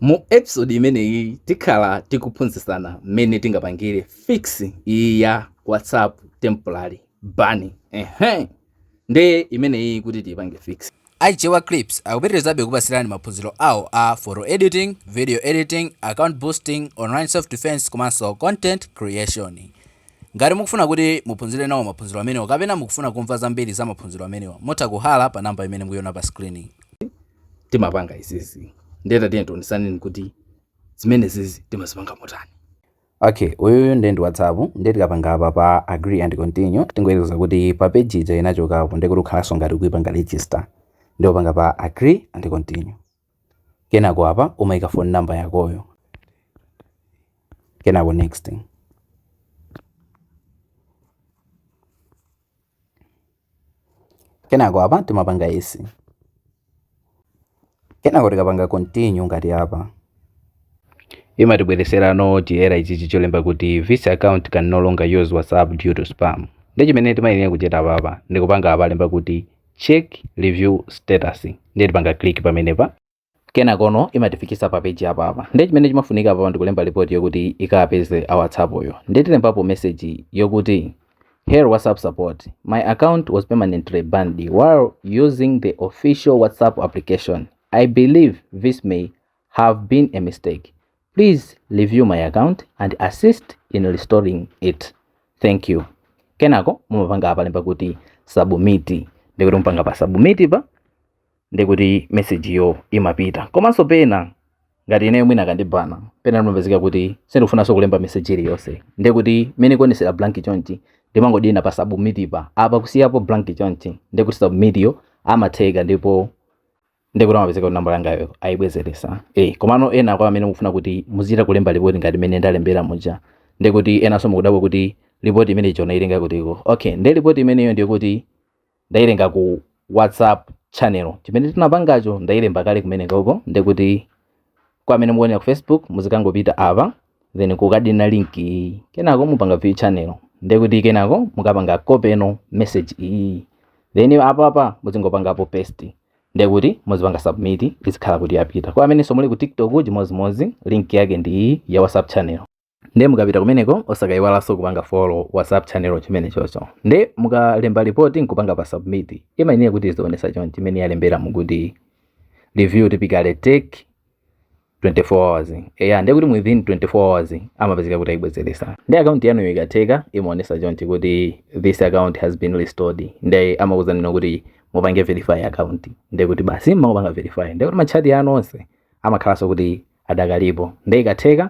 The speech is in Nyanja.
Mu episode imeneyi tikhala tikuphunzisana mmene tingapangire fix iyi ya WhatsApp temporary ban. Ehe. Nde imeneyi kuti tipange fix. Aichewa Clips akupitirizabe kupatsirani maphunziro awo a photo editing, video editing, account boosting, online self defense komanso content creation. Ngati mukufuna kuti muphunzire nawo maphunziro amenewa kapena mukufuna kumva zambiri za maphunziro amenewa, mutha kuhalla pa number imene mukuiona pa screen yi. timapanga izizi ndiye tatiyeni tionesane kuti zimenezizi timazipanga motani okay uyuyu ndiye ndi whatsapp ndiye tikapanga apa pa agree and continue tingoyelekeza kuti pa page ija inachokapo ndiye kuti ukhalanso ngati ukuipanga register ndiye upanga pa agree and continue kenako apa umaika phone number yakoyo kenako next kenako apa timapanga izi kenako tikapanga continue ngati apa imatibwereserano choyera ichichi cholemba kuti this account can no longer use whatsapp due to spam ndi chimene timayenera kuchita apapa ndikupanga apa alemba kuti check review status ndiye tipanga click pamenepa kenakono imatifikisa pa page apa apa ndiye chimene chimafunika apa ndikulemba report yokuti ikapeze a whatsapp yo ndiye tilembapo message yokuti Dear WhatsApp support. My account was permanently banned while using the official WhatsApp application. I believe this may have been a mistake. Please review my account and assist in restoring it. Thank you. Kenako mumapanga apa alemba kuti submit. Ndikuti mukapanga pa submit pa ndikuti message yo imapita. Komanso pena ngati ineyo mwina akandibana pena ndimapezeka kuti sindikufunanso kulemba message iliyonse. Ndikuti mene ikuonesera blank chonchi ndimangodina pa submit pa. Apa kusiyapo blank chonchi ndikuti submit yo amatheka ndipo ndiye kuti amapezeka kuti nambala yangayo ayibwezeretsa e komano ena kwa amene mukufuna kuti muzichita kulemba lipoti ngati mmene ndalembera muja ndiye kuti enanso mukudabwa kuti lipoti imeneyi ichonayi ilenga kutiko okay ndiye lipoti imeneyo ndiyo kuti ndayilenga ku whatsapp channel chimene tinapangacho ndayilemba kale kumenekoko ndiye kuti kwa amene mukuonera ku facebook muzikangopita apa then kukadina link iyi kenako mupanga view channel ndiye kuti kenako mukapanga copy no message iyi then apa apa muzingopangapo paste ndiye kuti muzipanga submit izikhala kuti yapita kwa amenenso muli ku tiktok chimodzimodzi link yake ndi iyi ya whatsapp channel nde mukapita kumeneko osakayiwalanso kupanga follow whatsapp channel chimenechocho nde mukalemba report nkupanga pa submit imayenera kuti izionesa chonchi chimene yalembera mukuti review typically take 24 hours eya nde kuti within 24 hours amapezeka kuti ayibwezelesa nde akaunti yanuyo ikatheka imaonesa chonchi kuti this account has been restored nde amakuuzanino kuti mupange verify account nde kuti basi mukapanga verify nde kuti matchati anu onse amakhalanso kuti adakalipo nde ikatheka